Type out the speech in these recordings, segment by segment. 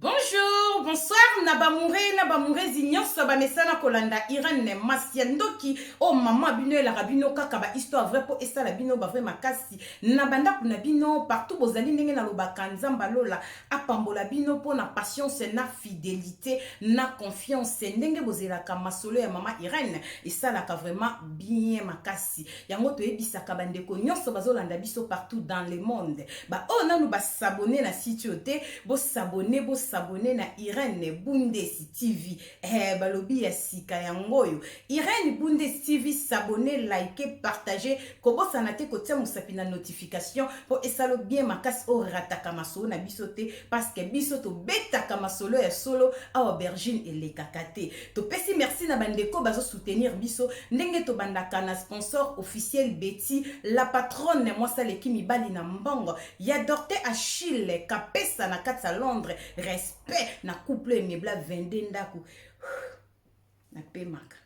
Bonjour, bonsoir na bamoure na bamourezi nyonso bamesana kolanda Irène masi ya ndoki oyo oh, mama bino elaka bino kaka ba histoire vrai mpo esala bino ba vrai makasi na bandako na bino partout bozali ndenge nalobaka nzamba lola apambola bino mpo na patience na fidelité na confiance ndenge bozelaka masolo ya mama Irène esalaka vraiment bien makasi yango toyebisaka bandeko nyonso bazolanda biso partout dans le monde baoyo oh, nanu basabone na site oyo te bosabone bosabone na irene bundesi tv eh, balobi ya sika yango oyo irene bundesi tv sabone like partage kobosana te kotia mosapi na notification mpo esalo bien makasi oyo rataka masolo na biso te parceke biso tobetaka masolo ya solo awa bergine elekaka te Topesi merci na bandeko bazo soutenir biso ndenge tobandaka na sponsor officiel Betty la patronne mwasi aleki mibali na mbongo ya Docteur Achille Kapesa na kati ya Londres respect na couple emebla 22 ndako napemaka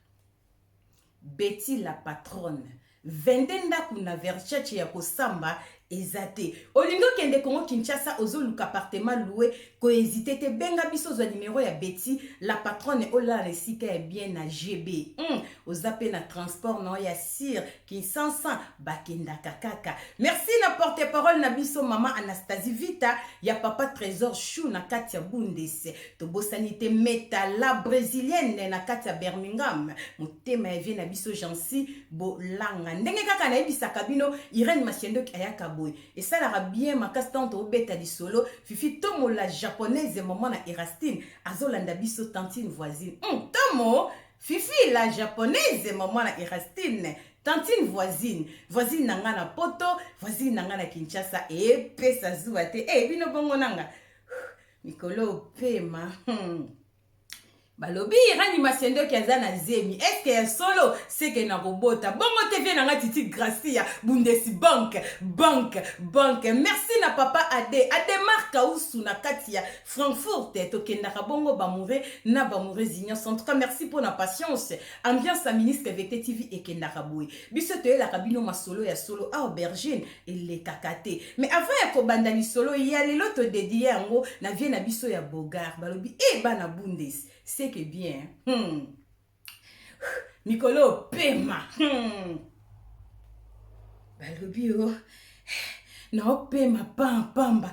Betty la patronne 22 ndaku na verchace ya kosamba eza te olingi okende congo Kinshasa ozo luka appartement loue ko hesite te benga biso ozua numero ya Betty la patronne olala na esika ya bien na GB hum oza pe na transport na yo ya sur Kinsansa ba kendaka kaka merci na porte parole na biso maman Anastasie Vita ya papa tresor choux na kati ya bundes Tobosani te Meta la brésilienne na kati ya Birmingham, motema ya vie na biso Jeancy Bolanga. Ndenge kaka nayebisaka bino Irène Masiendoki ayaka boye. Esalaka bien makasi ntango tobeta lisolo Fifi Tomo la japonaise maman na Erastine azolanda biso tantine voisine. Hum, Tomo Fifi la japonaise maman na Erastine tantine voisine voisine na ngai na poto voisine na ngai na kinshasa epesa zuwa te e bino bongo na ngai mikolo opema hmm. balobi rani masendoki aza na zemi eske ya solo seke na kobota bongo te vie na nga titi gracia bundesi banke banke banke merci na papa ade ademar kausu na kati ya frankfurt tokendaka bongo bamoure na bamoureuse nyonso en tout cas merci mpo na patience ambiance ya ministre vete tv ekendaka boye biso toyelaka bino masolo ya solo awa bergine elekaka te mais avant ya kobanda lisolo ya lelo todedie yango na vie na biso ya bogar balobi e eh, bana bundes seke bien hmm. mikolo opema hmm. balobi o oh, naopema pampamba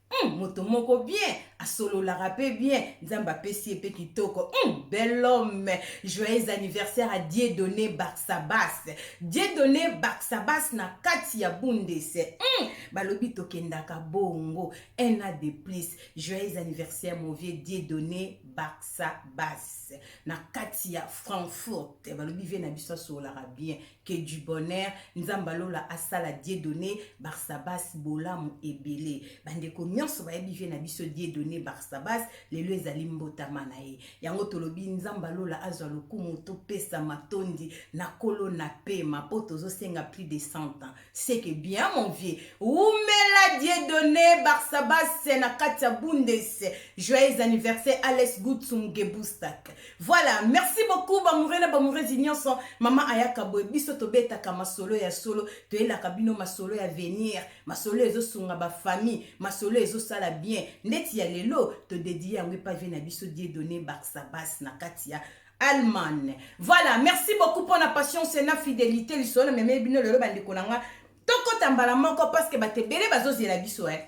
Hum, moto moko bien asololaka pe bien nzambe apesi ye pe kitoko hum, bel homme joyeux anniversaire à dieudonne barsabas dieudonne barsabas na kati ya bundes hum, balobi tokendaka bongo un a de plus joyeux anniversaire mon vieux dieudonne barsabas na kati ya frankfurt balobi vie na biso asololaka bien que du bonheur nzambe ya lola asala dieudonne barsabas bolamu ebele bandeko nyonso bayebi vie na biso dieudonne barsabas lelo ezali mbotama na ye yango tolobi nzambe ya lola azwa lokumu topesa matondi na kolo na pema mpo tozosenga plus de 100 ans C'est que bien mon vieux. Oumela Dieudonné Barsabas na kati ya Bundes. Joyeux anniversaire Alex Gutsum Gebustak. Voilà, merci beaucoup bamoureux na bamoureuse nyonso. Mama ayaka boye biso tobetaka masolo ya solo, toyelaka bino masolo ya venir, masolo ezosunga ba famille, masolo ezosala bien. Ndeti ya lelo todedie yango epavi na biso Dieudonné Barsabas na kati ya Allemagne. Voilà, merci beaucoup pour la patience et la fidélité. Lisolo meme bino lelo bande konanga. Toko tambala moko parce que bate bele bazo zela biso eh.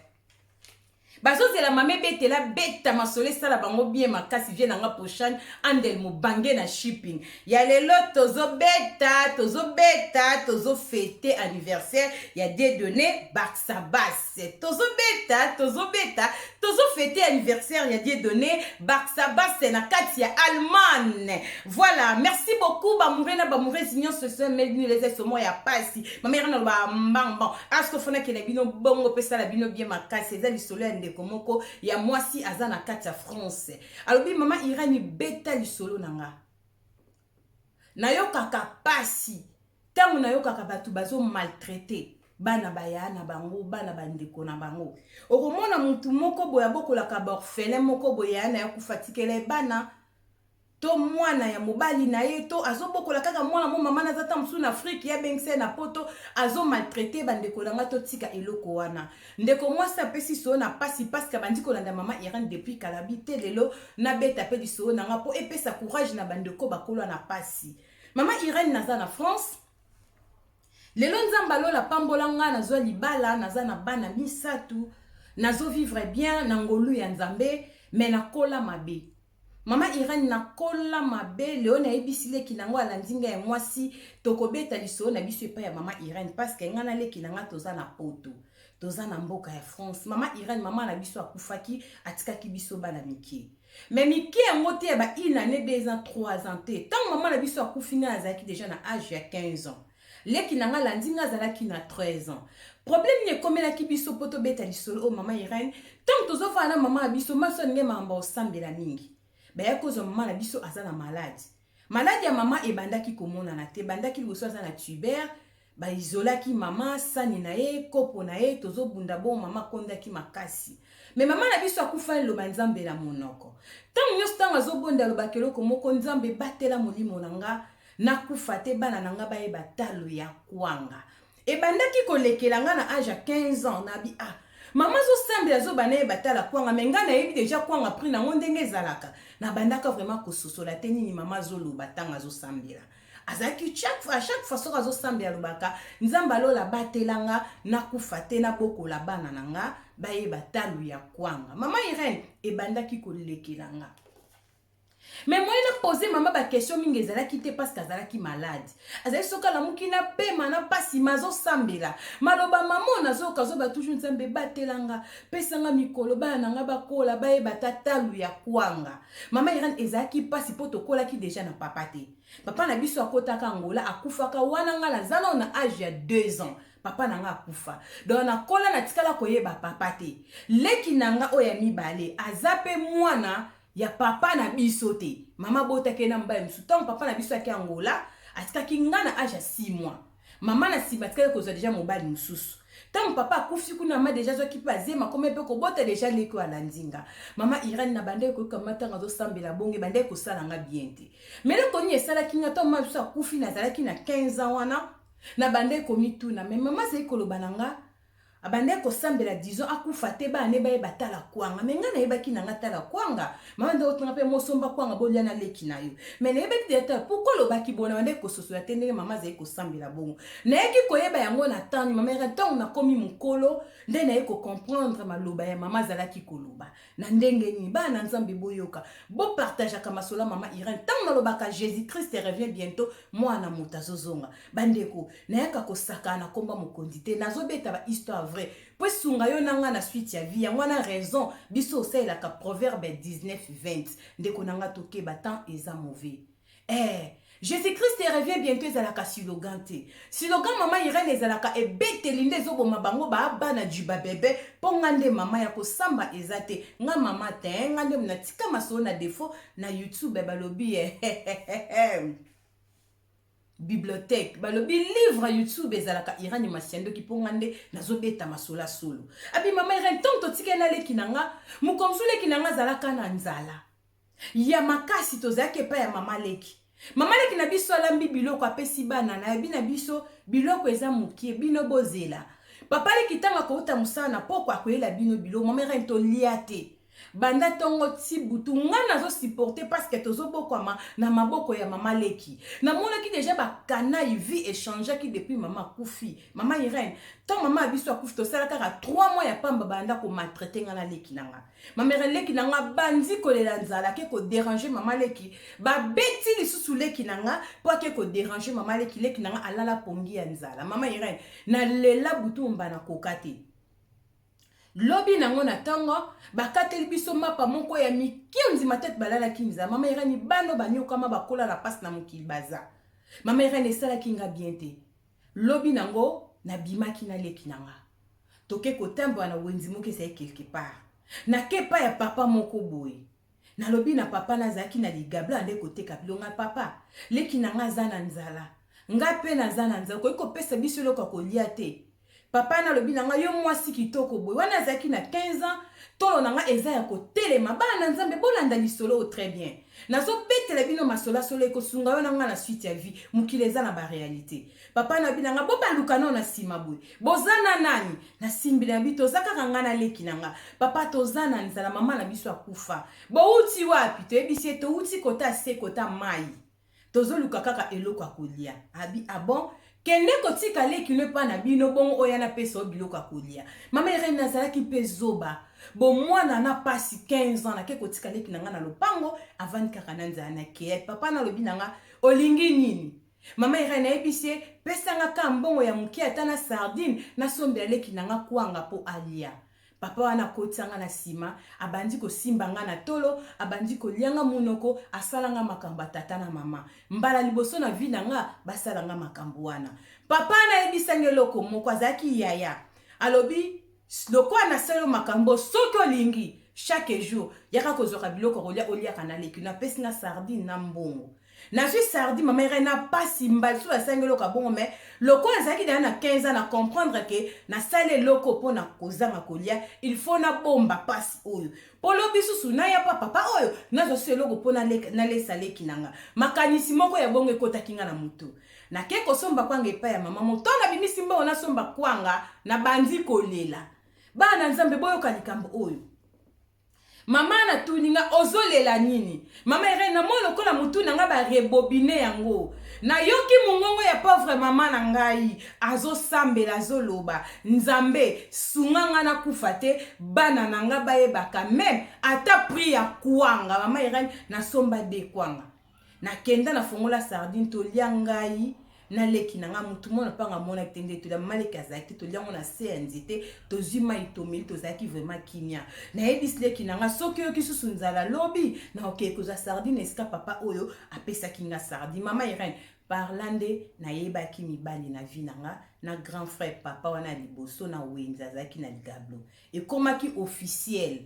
Bazo zela mame bete la beta masole sala bango bien makasi vie nanga prochaine andel mo bange na shipping. Ya lelo tozo beta, tozo beta, tozo fete anniversaire ya dedone Barça Bass. tozobeta tozobeta tozofete anniversaire ya diedone barsabase na kati ya allemagne voilà merci beaucoup bamoure na bamouresi nyonso esomelbinolezesomo ya pasi mamere naloba mbangban astofonaki na bino bongo mpe sala bino bie makasi eza lisolo ya ndeko moko ya mwasi aza na kati ya france alobi mama irani beta lisolo na nga Nayokaka pasi tango nayokaka batu bazo maltraite bana ba yaya na bango, bana ba ndeko na bango. Okomona mutu moko boye abokolaka ba orphelins moko boye yaya na ye akufa atikela ye bana to mwana ya mobali na ye to azobokola kaka mwana mo mama naza ta mosusu na afrique ye abengisa ye na poto azo maltraite bandeko na ngai totika eloko wana Ndeko mwasi apesi solo na pasi pasque abandi kolanda maman Irène depuis kala bi te lelo nabeta pe lisolo na nga po epesa courage na ba ndeko bakolo na pasi maman Irène naza na France lelo nzambe ya lola apambola nga nazwa libala naza na bana misatu nazo vivre bien na ngolu ya nzambe mais nakola mabe Maman Irène na kola mabe Leo na yebisi leki na ngo alandi nga ya mwasi toko beta lisolo na biso epai ya maman Irène parce que nga na leki na nga toza na poto toza na mboka ya France maman Irène maman na biso akufaki atikaki biso bana mike mais mike yango te ya ba une année deux ans trois ans te tant maman na biso akufi nga azalaki déjà na âge ya 15 ans Leki na nga alandi nga azalaki na 13 ans. Problème nini ekomelaki biso po tobeta lisolo oyo mama Irène? Tango tozofanda na mama na biso, mama na biso alingaki makambo ya kosambela mingi. Bayaki kozwa mama na biso aza na malade. Malade ya mama ebandaki komonana te, ebandaki liboso aza na tuber, ba isolaki mama, sani na ye, kopo na ye, tozobunda bongo mama akondaki makasi. Mais mama na biso akufani liloba Nzambe na monoko. Tango nyonso tango azobonda alobaka eloko moko, Nzambe batela molimo na nga, Na kufa te bana na nga bayeba talo ya kwanga Ebandaki ko lekela nga na age ya 15 ans na bi ah Maman azo sambela zoba naye ba tala kwanga mais nga na yebi dejà kwanga prix na ngo ndenge ezalaka Na bandaka vraiment ko sosola te nini maman azo loba tango azo sambela Azalaki chaque fois à chaque fois soki azo sambela alobaka Nzambe ya lola batela nga na kufa te na bokola bana na nga bayeba talo ya kwanga Maman Irène ebandaki ko lekela nga. Mais moyen na poser mama ba question mingi ezalaki te parce que azalaki malade. Azali soki alamuki na pema na pasi mazo sambela. Maloba mama nazo kazoba toujours nzambe batelanga, pesanga mikolo bana nanga bakola bayeba ta talu ya kwanga. Mama Irène ezalaki pasi po tokolaki deja na papa te. Papa na biso akotaka Angola akufaka wana nga na zana na âge ya 2 ans. papa na nga akufa donc nakola natikala koyeba papa te leki na nga oyo ya mibale aza mpe mwana ya papa na biso te mama abotaki ye na mobali mosusu ntango papa na biso ayaki angola atikaki ngai na age ya 6 mois mama na nsima atikaki kozwa deja mobali mosusu ntango papa akufi kuna mama deja azwaki mpe azema akomaki mpe kobota deja leki oyo alandi nga mama irene na bandaki koyoka mama ntango azosambela bonge bandaki kosala nga bien te meloko nini esalaki nga ntango mama biso akufi nazalaki na 15 ans wana na bandaki komituna me mama azali koloba na nga Abandaki kosambela disons akufa te bana ne bayeba tala kwanga mais ngai nayebaki na ngai tala kwanga mama nde otinga mpe mosomba kwanga bolia na leki na yo mais nayebaki deja tala pourquoi olobaki bona bandaki kososola te ndenge mama azali kosambela bongo nayaki koyeba yango na tani mama yaka ntango nakomi mokolo nde naye kocomprendre maloba ya mama azalaki koloba Na ndenge nini? Bana na Nzambe boyoka. Bo partageaka masolo ya mama Irène. Tango nalobaka Jesus Christ revient bientot, mwana na moto azozonga. Bandeko, nayaka kosakana na kombo ya mokonzi te. Nazobeta ba histoire vraie. Po esunga yo na nga na suite ya vie. Yango wana raison biso osalelaka proverbe 19:20. Ndeko na nga tokeba temps eza mauvais. Eeh Jesus Christ revient bientot ezalaka silogan te. Silogan mama Irene ezalaka ebeteli nde ezoboma bango ba bana du ba bebe po nga nde mama ya kosamba eza te nga mama tein nga nde mna tika masolo na defaut na youtube balobi eheheheh bibliothèque balobi livre ya youtube ezalaka irani masiandoki mpo nga nde nazobeta masola solo abi mama irani ntango totikeli na leki na nga mokomsu leki na nga azalaka na nzala ya makasi tozalaki epai ya mama leki mama leki na biso alambi biloko apesi bana nayebi na biso biloko eza mokie bino bozela papa leki ntango akouta mosala na poko akoyela bino biloko mama erene tolia te banda ntongo ti butu ngai nazosiporte parceke tozobokwama na maboko ya mama leki namonaki deja bakanai vie echangeaki depuis mama akufi mama irene ntango mama ya biso akufi tosala kaka 3 mois ya pamba banda komaltraite ngai na leki na ngai Ma mère leki na nga bandi kolela nzala ke ko déranger mama leki ba beti lisusu leki na nga po ake ko déranger mama leki leki na nga alala pongi ya nzala mama Irène na lela butu mba na koka te lobi nango na ntongo bakateli biso mapa moko ya mike ondima tete balalaki nzala mama irani bano banyokama bakola na mpasi na mokili baza mama irani esalaki nga bien te Lobi nango na bimaki na leki na nga toke ko tambola na wenzi moko ezali quelque part na ke epai ya papa moko boye na lobi na papa na zalaki na ligablo ande ko teka bilonga papa leki na nga aza na nzala nga pe naza na nzala okoki ko pesa biso eloko ya kolia te Papa na lobi na nga yo mwasi kitoko boye wana azalaki na 15 ans tolo na nga eza ya kotelema bana na nzambe bolanda lisolo oyo très bien nazobetela bino masola solo ekosunga yo na nga na suite ya vie mokili eza na barealité papa na lobi na nga bobaluka nao na nsima boye boza na nani nasimbi na bi toza kaka nga na leki na nga papa toza na nzala mama na biso akufa bouti wapi toyebisi ye touti kota se kota mai Tozoluka kaka eloko ya kolia. Abi, ah bon? Kende kotika leki no epai na bino, bongo oya napesa yo biloko ya kolia. Mama Irene, nazalaki mpe zoba. Bomwana na pasi 15 ans, nake kotika leki na nga na lopango, avandi kaka na nzala. Nakei, papa na alobi na nga, olingi nini? Mama Irene, nayebisi ye, pesa nga kaka mbongo ya moke, ata na sardine, nasombela leki na nga kwanga mpo alia. Papa wana akotisa nga na sima, abandi kosimba nga na tolo, abandi kolia nga munoko, asala nga makambo ya tata na mama. Mbala liboso na vie na nga basala nga makambo wana. Papa wana ayebisa nga eloko moko, azalaki yaya. Alobi, lokola nasali yo makambo oyo, soki olingi, chaque jour, yaka kozwaka biloko ya kolia, oliaka na leki. Napesi nga sardine na mbongo. nazwi sardi mama erai na pasi mbala so nasali eloko ya bongo mai lokola nazalaki deya na 15 ans na comprendre ke nasali eloko mpo na kozanga kolia il faut nabomba pasi oyo mpo lobi susu naya pa papa oyo nazwa susu eloko mpo nalesa leki na nga makanisi moko ya bongo ekotaki nga na motu nake kosomba kwanga epai ya mama motondo abimisi mbongo nasomba kwanga nabandi kolela bana nzambe boyoka likambo oyo Maman na tuni nga ozo lela nini? Maman Irène na moi lokola mutu na nga ba rebobine yango. Na yoki mungongo ya pauvre maman na ngai azo sambela azo loba nzambe sunga nga na kufa te bana na nga ba yebaka meme ata prix ya kuanga maman Irène na somba de kuanga. Na kenda na fongola sardine to lia ngai na leki na nga mutu mona panga mona te nde tolia mama leki azalaki te tolia ngo na se ya nzete tozwi mai tomeli tozalaki vraiment kimia nayebisi leki na nga soki oyoki susu nzala lobi na okei kozwa sardine esika papa oyo apesaki nga sardine mama irene parla nde nayebaki mibali na vie na nga na grand frère papa wana ya liboso na wenze azalaki na ligablo ekomaki officiel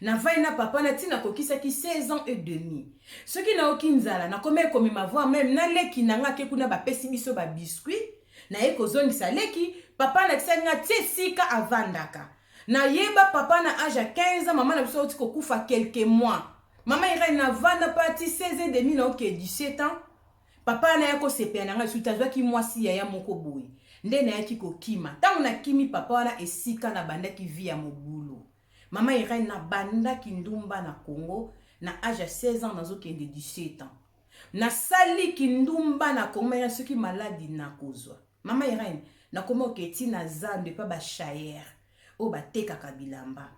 Navandi na papa na ti nakokisaki 16 ans et demi. Soki nayoki nzala, nakomaki komema voir meme na leki na nga ake kuna bapesi biso ba biscuits, naye kozongisa leki, papa alakisaki nga ti esika avandaka. Nayeba papa na age ya 15 ans mama na biso awuti kokufa quelques mois. Mama Irène navanda pa ti 16 et demi naokee 17 ans, papa wana aya kosepela na nga lisusu te azwaki mwasi yaya moko boye. Nde nayaki kokima. Tango nakimi papa wana esika nabandaki vie ya mobulu. Maman Irène na banda kindumba na Congo na age ya 16 ans nazo kende 17 ans. Na sali kindumba na Congo mais na soki maladi na kozwa. Maman Irène na komi oketi na zando epa ba chayer oyo ba tekaka bilamba.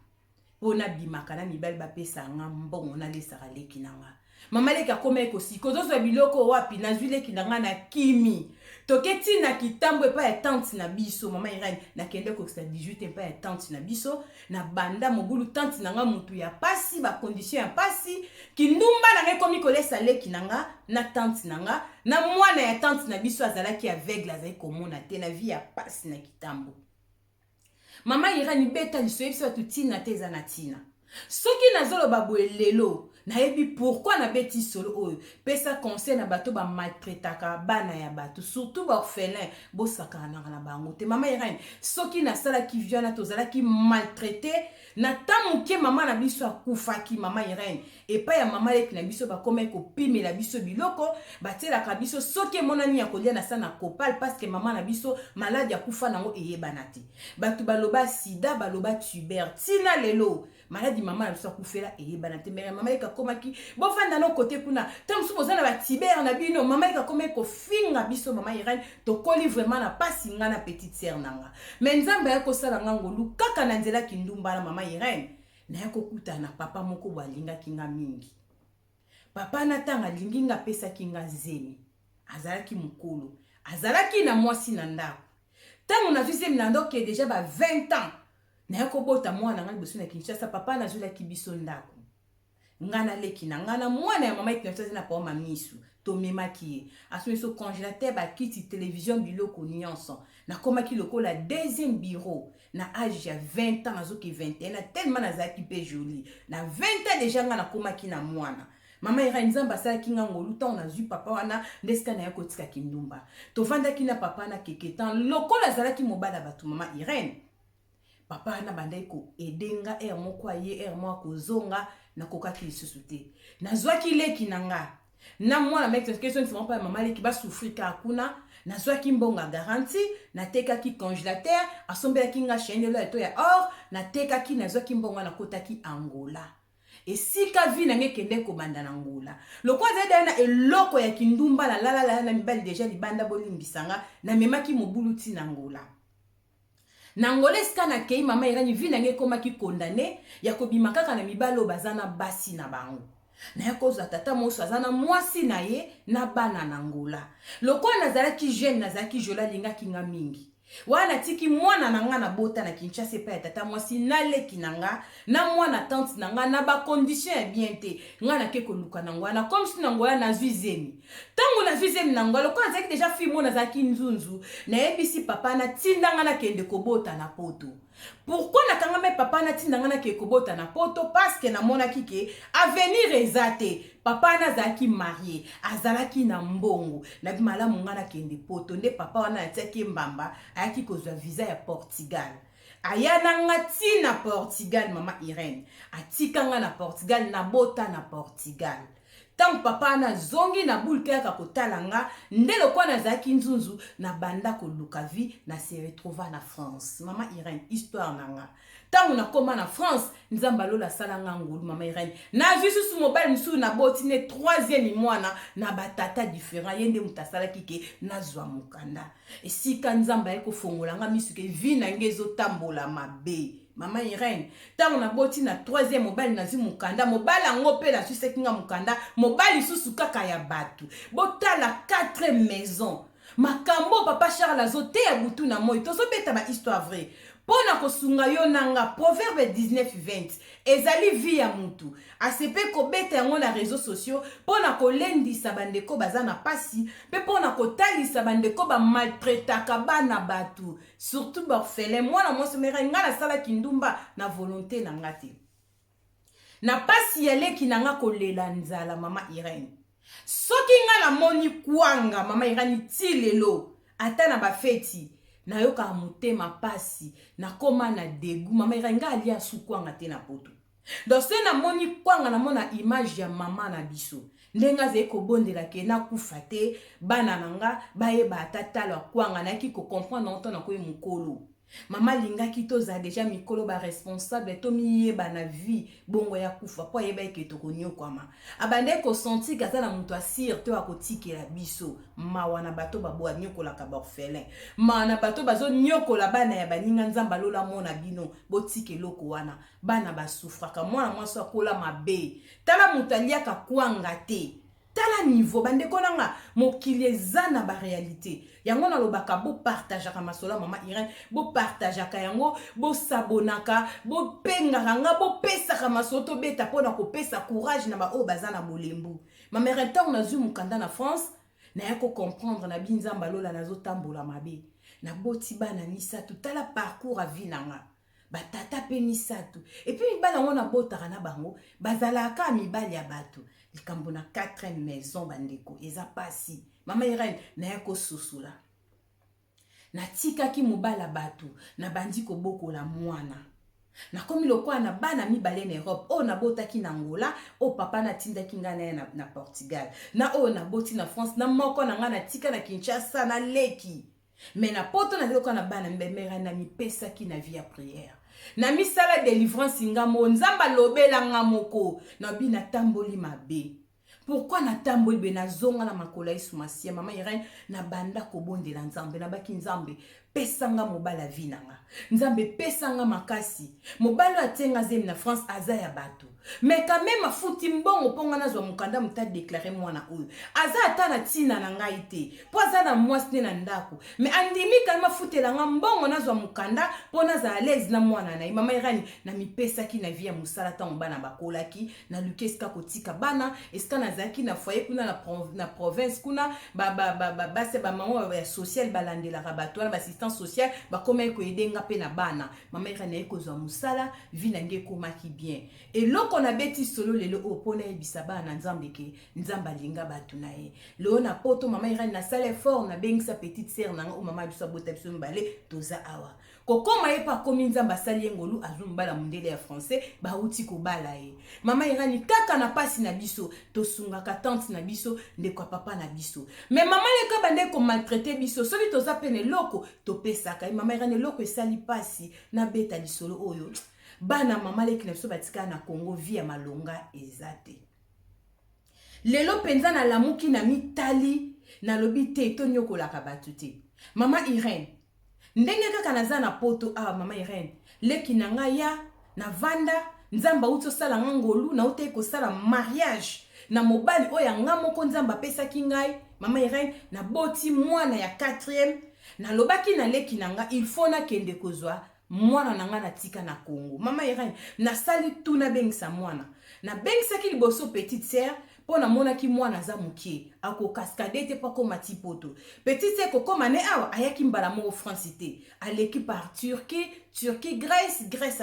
Po na bimaka na mibali ba pesa nga mbongo na lesaka leki na nga. Maman leki akoma ye kosika ozo zwa biloko wapi nazwi leki na nga na kimi toke ti na kitambo epai ya tante na biso mama irene nakende kokisa 18 epai ya tante na biso na banda mobulu tante na nga motu ya pasi bakondition ya pasi kindumba na nga ekomi kolesa leki na nga na tante na nga na mwana ya tante na biso azalaki aveugle azali komona te na vie ya pasi na kitambo Maman Irène beta lisu oyebisa batu tina te eza na tina. Soki nazo loba boye lelo nayebi pourquoi na beti solo oyo pesa conseil na bato ba maltraitaka bana ya bato surtout ba orphelins bosakanaka na bango te maman Irène soki nasalaki vie wana tozalaki maltraite na temps moke maman na biso akufaki maman Irène epai ya mama leki na biso bakomaki kopimela biso biloko batielaka biso soki emonani ya kolia na sana kopal paske mama na biso maladi ya kufa nango eyebana te bato baloba sida baloba tuber ntina lelo maladi mama na biso akufela eyebana te mere mama leki akomaki bofanda no kote kuna ta mosusu boza na batiber na bino mama leki akomaki kofinga biso mama irene tokoli vraiment na mpasi ngai na petite sere na nga me nzambe ayaki kosala ngai ngolu kaka na nzela kindumba na mama irene Naya kokutana na papa moko bo alingaki nga mingi. Papa na tanga alingi nga apesaki nga zemi. Azalaki mukolo. Azalaki na mwasi na ndako. Tango nazwi zemi na ndako ke deja ba 20 ans. Naya kobota mwana nga liboso na Kinshasa papa nazwelaki biso ndako. nga na leki na nga na mwana ya mama ekinoso aza na pao ma misu tomemaki ye asoni so congélateur bakiti télévision biloko nyonso nakomaki lokola deuxième bureau na age ya 20 ans nazoki 21 na tellement nazalaki mpe jolie na 20 ans déjà nga nakomaki na mwana mama irani nzambe asalaki nga ngolu ntango nazwi papa wana nde sika naye kotika kindumba tovandaki na papa na keke temps lokola azalaki mobali ya bato mama irene papa wana abandaki koede nga ere moko aye ere moko akozonga nakokaki lisusu te nazwaki leki na nga na mwana makesonkesongisama mpo ya mama leki basufri kaka kuna nazwaki mbongo ya garanti natekaki congélateur asombelaki nga chaine elo ya to ya or natekaki nazwaki mbongo wana nakotaki angola esika vi na ngai ekende kobanda na ngola lokola azali daya na eloko ya kindumba nalalala na mibali deja libanda bolimbisa nga namemaki mobulu ntina ngola Na Angola esika na keyi mama Irène vie na ngai ekomaki condamne ya kobima kaka na mibali oyo baza na basi na bango. Naya kozwa tata moso aza na mwasi na ye na bana na Angola. Lokola nazalaki jeune nazalaki jolie alingaki nga mingi. Wana natiki mwana na nga na bota na Kinshasa epai ya tata mwasi na leki na nga na mwana tante na nga na ba conditions ya bien te nga nake koluka na Angola na komsi na Angola nazwi zemi. ntango nazwi zemi na ngai lokola nazalaki deja fille mona nazalaki nzunzu nayebisi papa natinda ngai nakende kobota na poto pourkui nakangami papa natinda ngai nakende kobota na poto parceke namonaki ke avenir eza te papa wana azalaki marie azalaki na mbongo nabi malamu ngai nakende poto nde papa wana natiaki ye mbamba ayaki kozwa visa ya portugal aya na nga ti na portugal mama irene atika nga na portugal nabota na portugal Ntango papa wana azongi na boule mpe ayaka kotala nga, nde lokola nazalaki nzunzu, nabanda koluka vie, na se retrouva na France. Mama Irène, histoire na nga. Ntango nakoma na France, Nzambe ya lola asala nga ngolu, mama Irène. Nazwi susu mobali mosusu, naboti ne troisième mwana na ba tata differents, ye nde moto asalaki ke nazwa mokanda. Esika Nzambe aye kofongola nga misu ke vie na nga ezo tambola mabe. Mama Irene, ntango naboti na troisième mobali nazwi mokanda, mobali yango mpe nazwisaki nga mokanda, mobali lisusu kaka ya bato. Botala quatre maison. Makambo papa Charles azoteya butu na moi, tozobeta ba histoire vrai. Mpo na kosunga yo na nga, proverbe 19 20 ezali vie ya mutu. Asepe kobeta yango na rezo sosio mpo na kolendisa bandeko baza na mpasi mpe mpo na kotalisa bandeko bamaltretaka bana bato surtout baorphelin mwana mwasi mera ngai nasalaki ndumba na volonte na ngai te na mpasi ya leki na ngai kolela nzala mama irene soki ngai namoni kwanga mama irani ti lelo ata na bafeti nayokaka motema mpasi nakoma na degu mama irani ngai alia sukwanga te na poto Donc soki na moni kwanga na mona image ya maman na biso ndenge azali kobondela ke nakufa te bana na nga bayeba ata talo ya kwanga nayaki kocomprendre yango ntango nakomi mokolo mama alingaki tozala deja mikolo baresponsable tomiyeba na vie bongo ya kufa mpo ayebaki ke tokonyokwama abandaki kosentir ke aza na moto asire to akotikela biso mawa na bato babo anyokolaka baorphelin mawa na bato bazonyokola bana ya baninga nzambe alola mona bino botika eloko wana bana basufraka mwana mwasi akola mabe tala moto aliaka kwanga te tala nivo bandeko na nga mokili eza na barealité yango nalobaka bopartageaka masolo ya mama irene bopartageaka yango bosabonaka bopengaka nga bopesaka masolo tobeta mpo na kopesa courage na baoyo baza na bolembu mama irene ntango nazwi mokanda na france naya kocomprendre na binzamba lola nazotambola mabe naboti bana misato tala parcours ya vi na nga batata mpe misato epi mibali yango nabotaka na bango bazalaka kaka mibali ya bato likambo na 4 maison bandeko eza mpasi mama irene naya kososola natikaki mobali ya bato nabandi kobokola mwana nakomi lokola na bana mibale na europe oyo nabotaki na angola oyo papa natindaki ngai naye na, na portugal na oyo naboti na france na moko na ngai natika na kinshasa na leki Mais na poto na loka na bana mbemera na mipesaki na vie ya prière. Na misala délivrance nga mo Nzambe alobela nga moko na bi na tamboli mabe. Pourquoi na tamboli be na zonga na makola Yesu Masia mama Irène na banda kobondela Nzambe na baki Nzambe pesa nga mobala vie na nga. Nzambe pesa nga makasi. Mobala atenga zemi na France aza ya bato. Mais quand meme afuti mbongo po nga nazwa mukanda mutu a declare mwana oyo aza ata na tina na ngai te po aza na mwasi ne na ndako mais andimi quand meme afutela nga mbongo nazwa mukanda po nazala alaise na mwana na ye mama Irani namipesaki na vie ya mosala ntango bana bakolaki naluki esika kotika bana esika nazalaki na foyer kuna na, pro, na province kuna basi bamama ya sociale balandelaka bato wana baassistance sociale bakomaki koyede nga mpe na bana mama eka naye kozwa mosala vi na nge ekomaki bien eloko nabeti solo lelo oyo mpo nayebisa bana na nzambe ke nzambe alinga bato na ye lelo na poto mama irani nasala effort nabengisa petite sere na nga oyo mama biso abota biso mibale toza awa kokoma ye mpe akomi nzambe asali ye ngolu azwi mobala mondele ya français bauti kobala ye mama irani kaka na mpasi na biso tosungaka tante na biso ndeko ya papa na biso me mama leka bandeki komaltraite biso soki toza mpe na eloko topesaka ye mama irene eloko esali mpasi nabeta lisolo oyo bana mama leki na biso batikala na congo vi ya malonga eza te lelo mpenza nalamuki na mitali nalobi te tonyokolaka bato te mama irene ndenge kaka naza na poto awa ah, mama irene leki na ngai ya Na vanda, Nzambe awuti osala nga ngolu, na utaki kosala mariage na mobali oyo ya nga moko Nzambe apesaki ngai, mama Irene, na boti mwana ya quatrième, na lobaki na leki na nga il faut na kende kozwa mwana na nga na tika na Congo. Mama Irene, na sali tout na bengisa mwana. Na bengisaki liboso petite sœur, mpo namonaki mwana aza mokie akokaskade te mpo akoma ti poto petit se kokoma ne awa ayaki mbala moko france te aleki par turquie turquie grèce grèce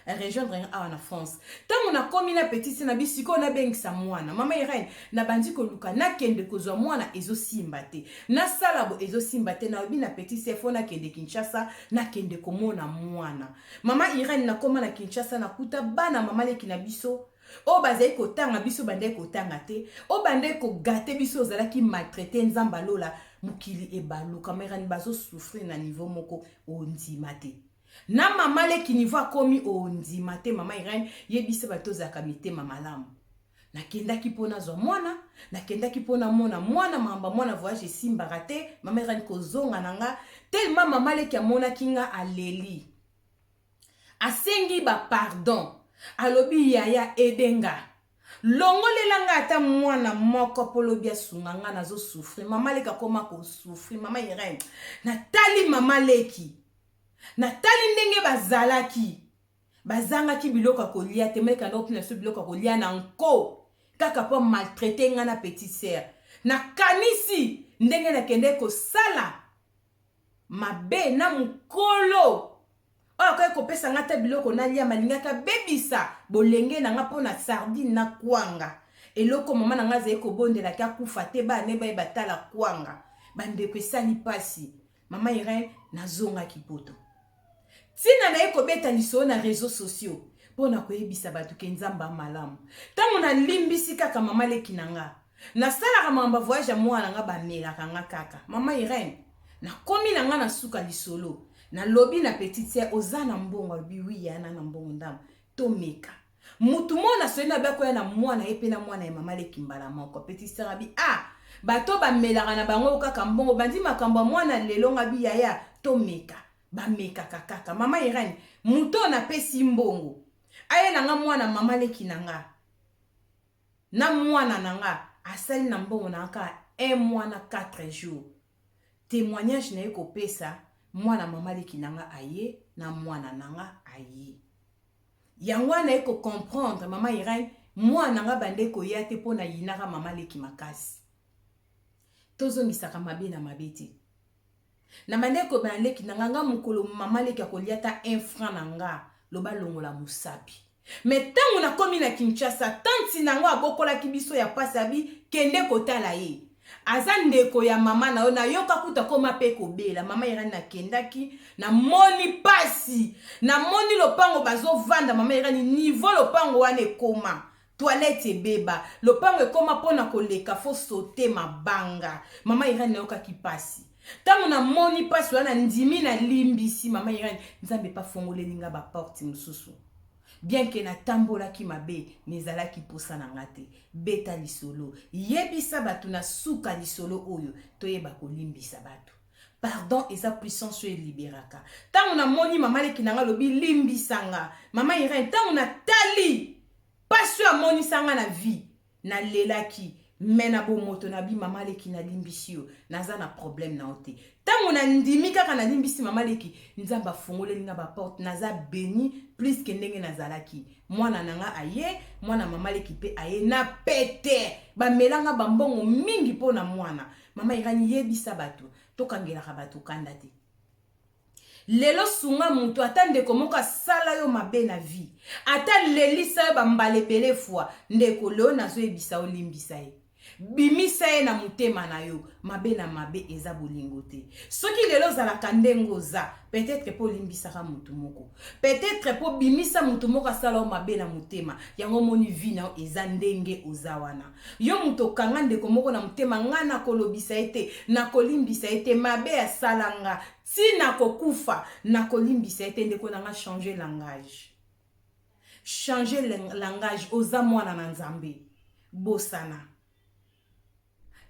arejoindre nga awa na france ntango nakomi na petit se na bi sikoyo nabengisa mwana mama irene nabandi koluka nakende kozwa mwana ezosimba te nasala bo ezosimba te nalobi na petit se fo nakende kinshasa nakende komona mwana mama irene nakoma na kinshasa nakuta bana mama leki na biso oyo bazali kotanga biso bandaki kotanga te oyo bandaki kogate biso ozalaki maltraite nzambe alola mokili ebaluka merani bazosouffrir na niveau moko ondima te na mama leki niveau akomi ondima te mama irene yebisa bato ozalaka mitema malamu nakendaki mpo nazwa mwana nakendaki mpo namona mwana mamba mwana voyage esimbaka te mama irene kozonga na nga telema mama leki amonaki nga aleli Asengi ba pardon. Alobi yaya aide nga. Longolela nga ata mwana moko po lobi asunga nga nazo souffrir. Maman leki akoma ko souffrir. Maman Irene. Na tali maman leki. Na tali ndenge ba zalaki. Ba zangaki biloko ya kolia te. Maman leki ando pina biso biloko ya kolia na nko. Kaka po a maltraite nga na petite sœur. Na kanisi ndenge na kendeki ko sala. mabe na mokolo oyo akoki kopesa ngai ata biloko nalia malingaki abebisa bolenge na ngai mpo na sardine na kwanga eloko mama na ngai azali kobondelaki akufa te bana ne baye batala kwanga bandeko esali mpasi mama irene nazongaki poto Tina naye kobeta lisolo na reseaux sociaux po na koyebisa batu ke Nzambe a malamu. Tango na limbisi kaka mama leki na nga, na salaka makambo ya voyage ya muana na nga ba melaka nga kaka. Mama Irene, na komi na nga na suka lisolo, na lobi na petite soeur oza na mbongo? Alobi oui yaya na na mbongo ndambu. To meka. Mutu moko na soni mabe akoya na mwana ye pe na mwana ya mama leki mbala moko petit sœur abi ah batu oyo ba melaka na bango kaka mbongo bandi makambu ya mwana lelo nga bi yaya to meka ba mekaka kaka mama Irène mutu oyo na pesi mbongo ayela nga mwana mama leki na nga na mwana na nga asali na mbongo na nga kaka un mois na quatre jours temoignage naye kopesa mwana mama leki nanga aye na mwana nanga aye yango wana naye ko comprendre mama Irène mwana nanga bande koya te mpo nayinaka mama leki makasi tozongisaka mabe na mabe te na bande kobana leki nanga nga mokolo mama leki akolia ta un franc na nga loba longola mosapi Mais tango na komi na Kinshasa tante na ngo abokolaki biso ya pasi abi kende kotala ye aza ndeko ya maman na yo na yoka kutu akoma pe kobela maman Irène na kendaki na moni pasi na moni lopango bazo vanda maman Irène niveau lopango wana ekoma toilette ebeba lopango ekoma pona koleka faut sauter mabanga maman Irène na yokaki pasi Tango na moni pasi wana ndimi na limbisi mama Irène nzambe pa fongoleli nga ba porte mususu bien que na tambolaki mabe mais ezalaki posa na nga te beta lisolo yebisa batu na suka lisolo oyo toyeba kolimbisa batu pardon eza puissance oyo eliberaka tango na moni mama leki na nga lobi limbisa nga mama Irène tango na tali pasi oyo amonisa nga na vie Na lelaki mais na bomoto na bi mama leki na limbisi yo naza na problème na yo te tango na ndimi kaka na limbisi mama leki nzambe afongoleli nga ba porte naza beni plus que ndenge nazalaki mwana na nga aye mwana mama leki pe aye na pete bamela nga ba mbongo mingi po na mwana mama irani yebisa bato tokangelaka bato kanda te Lelo sunga mutu ata ndeko moko asala yo mabe na vie ata alelisa yo ba mbala ebele fois ndeko lelo nazo yebisa yo limbisa ye bimisa ye na mutema na yo mabe na mabe eza bolingo te soki lelo ozalaka ndenge oza peut etre pe olimbisaka mutu moko Peut etre po bimisa mutu moko asala yo mabe na motema yango omoni vie na yo eza ndenge oza wana yo mutu okanga ndeko moko na motema nga nako lobisa ye te nako limbisa ye te mabe asala nga ti nako kufa nako limbisa ye te ndeko na nga change langage change langage oza mwana na nzambe bosana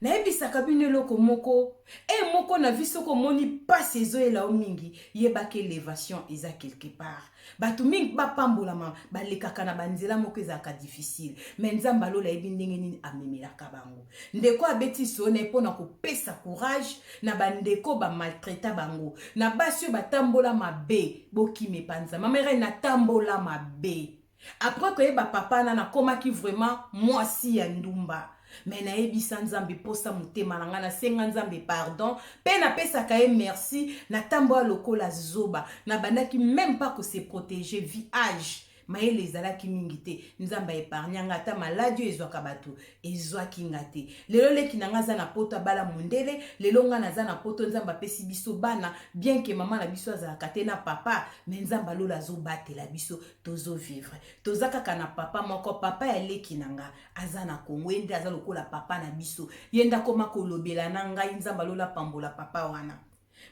Nayebisaka bino eloko moko heure moko na vie soki omoni pasi ezoyela yo mingi yeba ke levation eza quelque part batu mingi ba pambolama balekaka na ba nzela moko ezalaka difficile mais nzambe ya lola ayebi ndenge nini amemelaka bango ndeko abeti lisolo naye pona kopesa courage na ba ndeko ba maltraita bango na basi oyo batambola mabe bokima epa nzambe mama irene natambola mabe Après koyeba papa na nakomaki vraiment mwasi ya ndumba me nayebisa nzambe mposa motema na ngai nasenga nzambe pardon mpe napesaka ye merci natambola lokola zoba nabandaki meme pas ko se protéger vi age mayele ezalaki mingi te nzambe aepargna nga ata maladi oyo ezwaka bato ezwaki nga te lelo leki na nga aza na poto abala mondele lelo nga naza na poto nzambe apesi biso bana bien ke mama na biso azalaka te na papa me nzambe alola azobatela biso tozo vivre toza kaka na papa moko papa ya leki na nga aza na kongo ye nde aza lokola papa na biso ye nde akoma kolobela na ngai nzambe alola pambola papa wana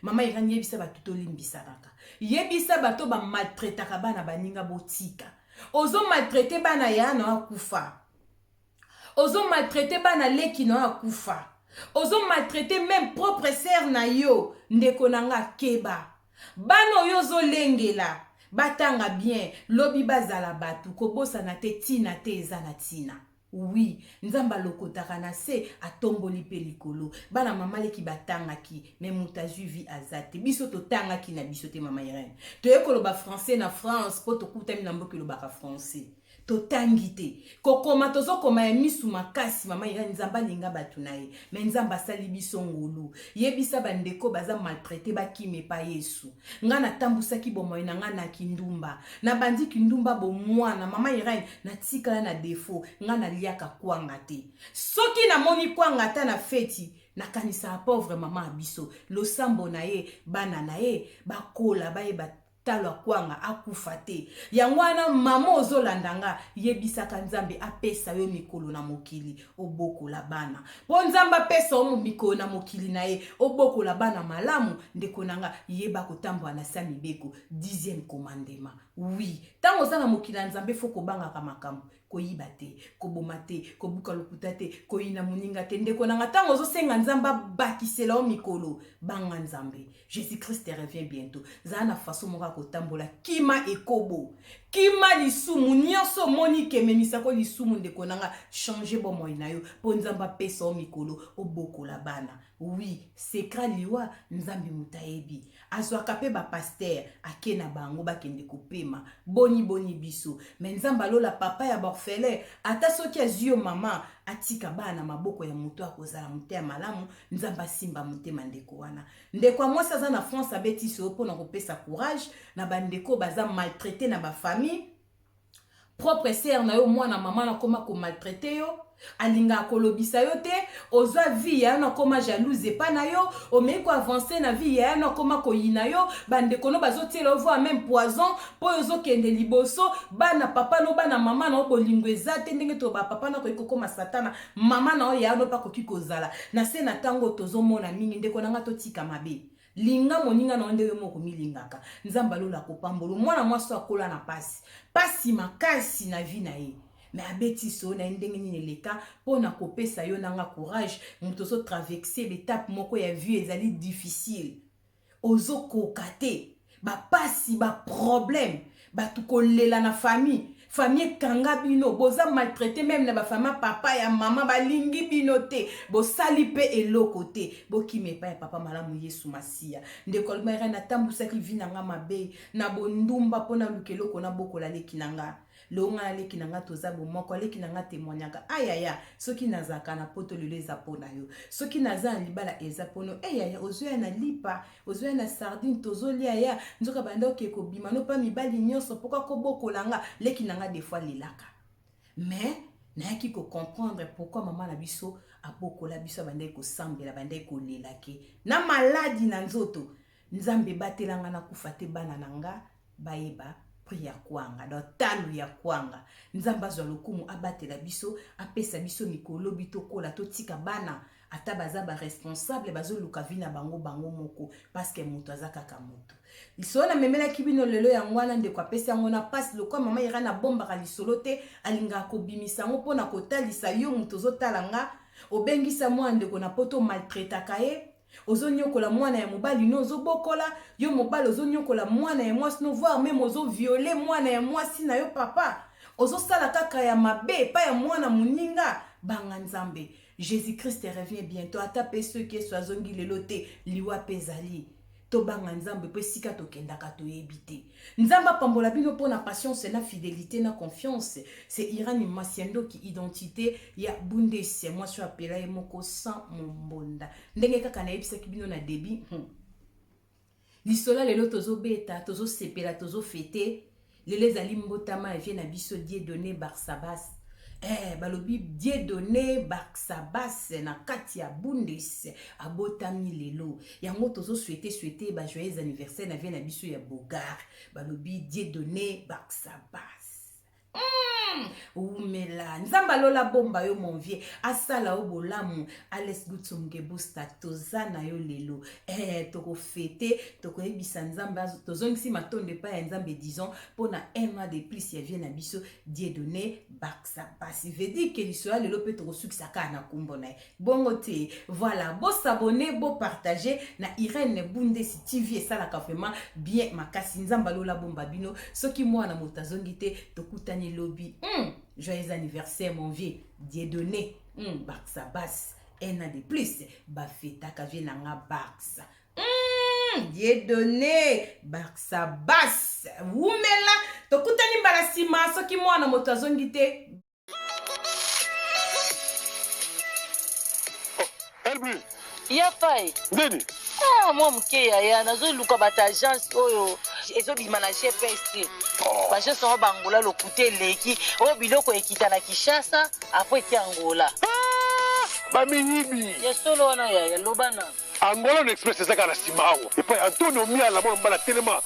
mama irani yebisa bato tolimbisanaka yebisa bato bamaltretaka bana baninga botika ozo maltrete bana ya na akufa ozo maltraite bana leki na yo akufa ozo maltraite meme propre sere na yo ndeko na nga keba bana oyo ozolengela batanga bien lobi bazala bato kobosana te ntina te eza na ntina wi nzambe alokotaka na se atomboli mpe likolo bana mama leki batangaki me moto azwi vi aza te biso totangaki na biso te mama irene toye koloba français na france mpo tokutami na mboka elobaka français totangi te kokoma tozokoma ya misu makasi mama irene nzambe alinga bato na ye me nzambe asali biso ngolu yebisa bandeko baza maltraite bakima epa yesu ngai natambusaki bomoi na ngai na kindumba nabandi kindumba bomwana mama irene natikala na defo ngai naliaka kwanga te soki namoni kwanga ata na feti nakanisaka pauvre mama ya biso losambo na ye bana na ye bakola bayeba talo akwanga akufa te yango wana maman ozolanda nga yebisaka nzambe apesa yo mikolo na mokili obokola bana po nzambe apesa yo mikolo na mokili na ye obokola bana malamu ndeko na nga yeba kotambola na sa mibeko dixième commandement wi ntango oza na mokili ya nzambe fo kobangaka makambo koyiba te koboma te kobuka lokuta te koyina moninga te ndeko na nga ntango ozosenga nzambe abakisela yo mikolo banga nzambe jésus christ revient bientôt zala na faso moko ya kotambola kima ekobo kima lisumu nyonso omoni kememisako lisumu ndeko na nga change bomoi na yo mpo nzambe apesa yo mikolo obokola bana wi sekra liwa nzambe moto ayebi azwaka mpe bapastere ake na bango bakende kopema boni boni biso me nzambe alola papa ya baorfele ata soki azwi yo mama atika bana na maboko ya moto akozala mote ya malamu nzambe asimba motema ndeko wana ndeko ya mwasi aza na france abetisi yo mpo na kopesa courage na bandeko baza maltraite na bafamille propre sere na yo mwana mama nakoma komaltraite yo alingaka kolobisa yo te ozwa vie ya yo nakoma jalouse epa na yo omei koavanse na vie ya yo nakoma koyina yo bandeko no bazotiela yo voi meme poison mpo oyo ozokende liboso bana papa no bana mama na yo bolingo eza te ndenge to bapapa na akoki kokoma satana mama na yo ya yo nope akoki kozala na se na ntango tozomona mingi ndeko na ngai totika mabe Linga moninga na yo ndenge moko omilingaka. Nzambe ya lola akopambolo. Mwana mwasi oyo akola na pasi. Pasi makasi na vie na ye. me abeti solo na ye ndenge nini eleka mpo na kopesa yo na nga courage moto ozotraverse betape moko ya vie ezali difficile ozokoka te bapasi baproblème batu kolela na famille famille ekanga bino boza maltraite meme na bafama papa ya mama balingi bino te bosali mpe eloko te bokima epai ya papa malamu yesu masiya ndeko almera natambwisaki vi na nga mabe na bondumba mpo naluka eloko nabokola leki na nga leo ngai na leki na ngai toza bomoko aleki na ngai temwaniaka ayaya soki nazalaka na poto lelo eza mpo na yo soki naza na libala eza mpono eyaya eh, ozoya na lipa ozoya na sardine tozolia ya nzoka banda oke kobima no mpa mibali nyonso mpoka kobokola nga leki na nga defoi lelaka mais nayaki kocomprendre pourkui mama na biso abokola biso abandaki kosambela abandaki kolela ke na maladi na nzoto nzambe ebatela nga nakufa te bana na nga bayeba prix ya kwanga donc talo ya kwanga nzambe azwa lokumu abatela biso apesa biso mikolo lobi tokola totika bana ata baza ba responsable bazoluka vi na bango bango moko paske moto aza kaka moto lisolo namemelaki bino lelo yango wana ndeko apesi yango na mpasi lokola mama ira nabombaka lisolo te alingaka kobimisa yango mpo na kotalisa yo moto ozotala nga obengisa mwana ndeko na poto maltraitaka ye ozo nyokola mwana ya mobali no ozo bokola yo mobali ozo nyokola mwana ya mwasi no voir meme ozo viole mwana ya mwasi na yo papa ozo sala kaka ya mabe epai ya mwana moninga banga nzambe jésus christ revient bientôt ata mpe soki yesu azongi lelo te liwa mpe ezali tobanga nzambe mpo esika tokendaka toyebi te Nzambe apambola bino pona patience na fidelite na confiance c'est Irani Masiandoki identite ya Bundes mwasi oyo apela ye moko sans mombonda ndenge kaka nayebisaki bino na debut hmm. lisola lelo tozobeta tozosepela tozofete lelo ezali mbotama ya vie na biso Dieudonne Barsabas eh, balobi Dieudonne Barsabas na kati ya Bundes abotami lelo yango tozo souhaite souhaite ba joyeux anniversaire na vie na biso ya bogar balobi dieu donne baksabas mm! wumela nzambe alola bomba yo mon vieux asala yo bolamu ales gutsumgebusta toza na yo lelo eh, tokofete tokoyebisa nzambe tozongisi matondo epai ya nzambe disons mpo na un mois de plus ya vie na biso dieu donne baksabas vedike liso ya lelo mpe tokosukisa kaka na nkombo na ye bongo te voilà bo s'abonner bo partager na Irène Bundesi TV esalaka vraiment bien makasi nzamba lola bomba bino soki mwana moto azongi te tokutani lobi mm, joyeux anniversaire mon vieux Dieudonné mm, Barça Bass un an de plus bafetaka vie na nga Barça mm, Dieudonné Barça Bass wumela tokutani mbala nsima soki mwana moto azongi te Elbri. Ya fai. Nini? Ah, mwa moke yaya nazoluka bato agence oyo ezobima na gps te oh. baagence yango bangola lokuta eleki oyo biloko ekita na kinshasa apres eki angola ah! bamiyibi ya solo wana yaya loba na angola na express ezaka na nsima awa epai antonio miala mwana mobala telema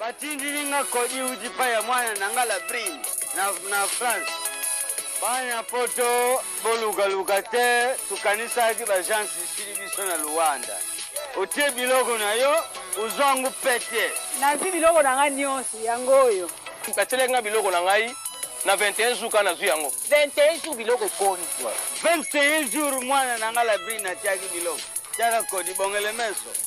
batindili nga kodi uti pa ya mwana na nga la brine na, na france bana poto bolukaluka te tokanisaki bajansi sili biso na luanda otie biloko na yo ozwa yango pete nazwi biloko na ngai nyonso yango oyo batielaki ngai biloko na ngai na 21 jours kaka nazwi yango 21 jours biloko ekoni 21 jours mwana na ngai la brine atiaki biloko tiaka kodi bongele meso